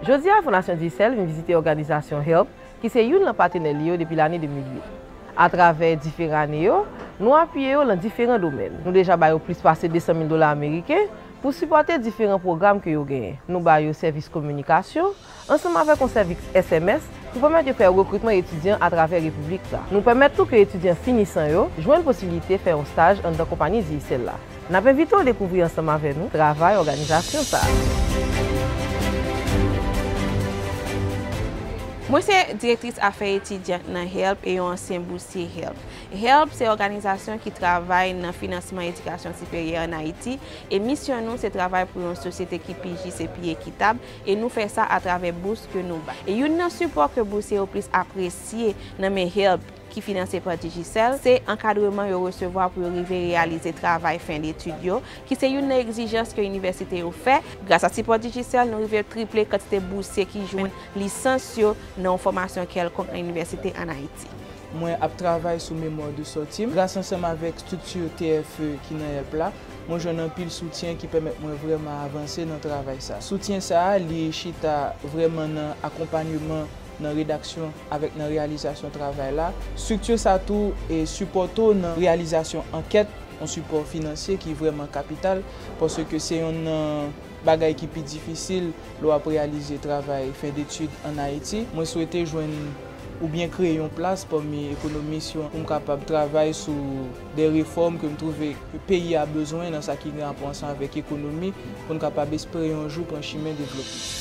Jodi a, Fondasyon Dyesèl vin vizite òganizasyon HELP ki se youn lan patenè li yo depi lane 2008. Atravè diferan ane yo, nou apiye yo lan diferan domèn. Nou deja ba yo plis pase 200 mil dola ameriken pou sipòte diferan pwogram ke yo genyen. Nou ba yo sèvis kominikasyon. ansanm avèk yon sèviks sms pou pèmèt yo fè rekritman etidyan atravè repiblik la. Nou pèmèt tou ke etidyan finisan yo jwenn posibilite fè yon staj anndan konpani Digicel la. N ap envite w dekouvri ansanm avè nou travay òganizasyon sa a. Mwen se Direktris Afè Etidyan nan help e yon ansyen bousye help. Help se òganizasyon ki travay nan finansman edikasyon siperyè an Ayiti e misyon nou se travay pou yon sosyete ki pi jis e pi ekitab, e nou fè sa atravè bous ke nou bay. E youn nan sipò ke bousye yo plis apresye nan men HEALP, ki finanse pa Digicel, se ankadreman yo resevwa pou yo rive reyalize travay fen detid yo, ki se youn nan egzijans ke inivèsite yo fè. Gras a sipò Digicel, nou rive triple kantite bousye ki jwenn lisans yo nan yon fòmasyon kèlkonk nan inivèsite an Ayiti. Mwen ap travay sou Mémoire de sortie m, gras ansanm avèk strikti TFE ki nan HEALP la. Mwen jwenn anpil soutyen ki pèmèt mwen vrèman avanse nan travay sa. Soutyen sa a, li chita vrèman nan akonpanyeman nan redaksyon avèk nan reyalizasyon travay la. Strikti sa tou sipòte w nan reyalizasyon ankèt, yon sipò finansye ki vrèman kapital, paske se yonn nan bagay ki pi difisil lè w ap reyalize travay fen detid ann Ayiti. Mwen swete jwenn oubyen kreye yon plas pami ekonomis yo pou m kapab travay sou. de refòm ke m twouve peyi a bezwen nan sa ki gen apò ansan avèk ekonomi pou n kapab espere yon jou pran chimen devlopman.